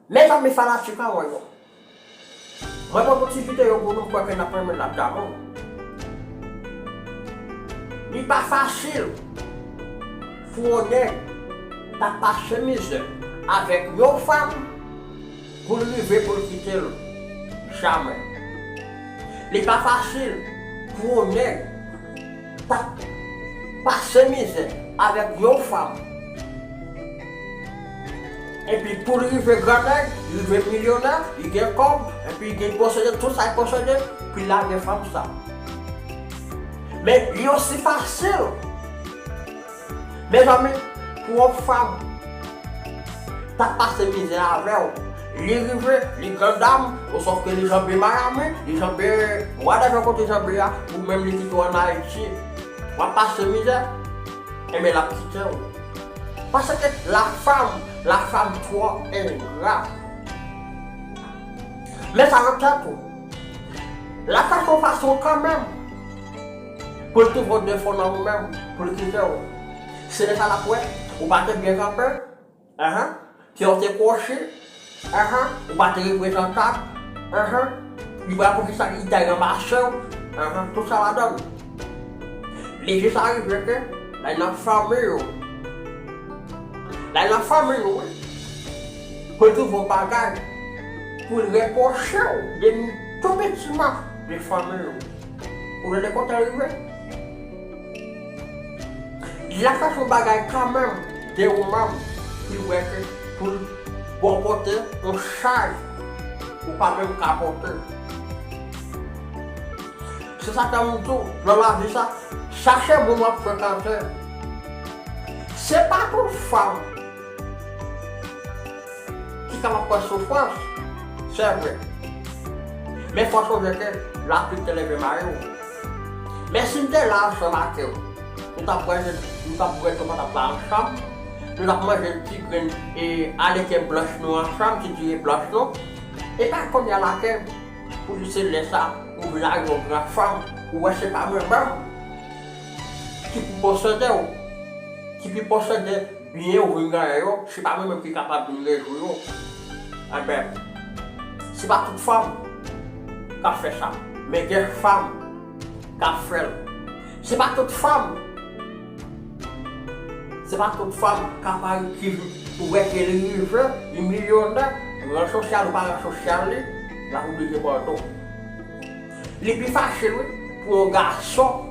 Mes amis fanatik an mwen yo Mwen pot yon ti video pou nou m kwè ke nap renmen nap damou Li pa fasil pou yon nèg ta pase mizè avèk yon fanm pou l rive pou l kite l Jamè Li pa fasil pou yon nèg Tap pase mizè avèk yon fanm epi poul rive gran nèg rive milyonè li gen kòb epi li posede tout sal posede poul lage fanm sa men li osi fasil Mezanmi prof Fab tap pase mizè avèw li rive li gran dam ou sof ke li janbe Miami li janbe whatever kote janbe ya ou menm li kite w an Haiti wap pase mizè enben lap kitew paske la fam la fam tro engra met sa nan tèt ou la fam gon fason kanmenm Pol tou vo de fon nan ou menm poul kitew se leta lap wè ou pa te byen kanpe anh kew te kwochi anh ou pa te reprezantab anh li pral poukisa li ta ranmasew anh tout sa ladann li jis arive ke lay nan fanmi yo lay nan fanmi yo wi pol tou vo bagay poul repwochew de tou piti ma de fanmi yo. Ou renmen kontan rive. Lap fè fon bagay kanmenm de Roman li wè ke poul baw pote yon chaj ou pa menm ka pote. Se sa fèm di w nan lavi sa chache moun wap frekante se pa tout fanm Kisa map pran sou fòs? Sevre. Men fòs ou jete, lapli te leve mare ou. Men si m te la ansanm ake ou, nou tap bwè je, nou tap bwè to patap la ansanm, nou tap manje ti grenn e aleke blanch nou ansanm, ti diri blanch nou. E pa kounye a lake pou di se lè sa ou vin a yon gran fanm, ou wè se pa mwen menm ki pou posede ou, ki pi posede. Byen ou vin gaye yo, se pa mwen menm ki kapab vin rezoui yo. Enben, se pa tout fanm k ap fè sa, men gen fanm k ap fè l. Se pa tout fanm, se pa tout fanm k ap a ki ou wè ke li rive, li milyonè, ran sosyal ou pa ran sosyal li, l ap oblije pòl tou. Li pi fasil wi pou yon gason.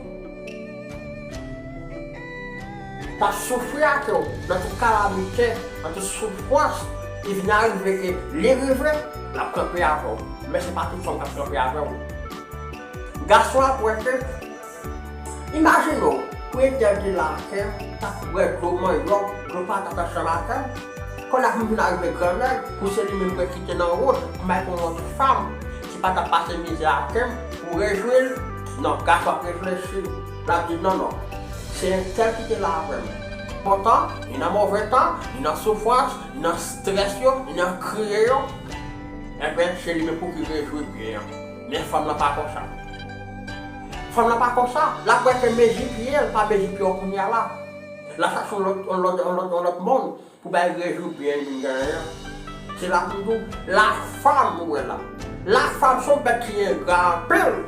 Tap soufri ak yo nan tout kalamite, nan tout soufrans, e vin arive ke li rive, lap kanpe avèw, men se pa tout fanm kap kanpe avèw. Gason ap wè ke, imajine w, premye dèl ki la a ke tap bwè dlo manyòk, dlo patat ansanm avèw, kòl la vin vin arive gran nèg, pou se li menm mwen kite nan wout, pou m al pran yon lòt fanm, Sa kap pase mizik la kem pou rejwi l non gason ap reflechi lap di non non se entèl ki te la avèm bon tan ni nan move tan ni nan soufrans ni nan strès yo ni nan kriye yo enben se li menm pouki rejwi byen an men fanm lan pa konsa fanm lan pa konsa lap wè ke mezi pyel pa mezi pye w kounya la lap chache yon lòt yon lòt yon lòt yon lòt moun. Pou bay rejou byen vin genyen an. Se la pou m di w, lafam ou wè la. Lafam se yon bèt ki engra anpil.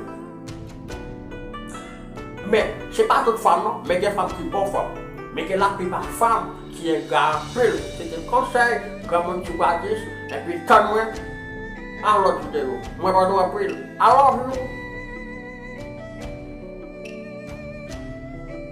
Men, se pa tout fam non, men gen fam ki bon fam. Men gen laplipa fam ki engra anpil. Se te konsèy granmoun ti Gwadis, epi tann mwen nan lòt videyo. Mwen renmen nou anpil. I love you!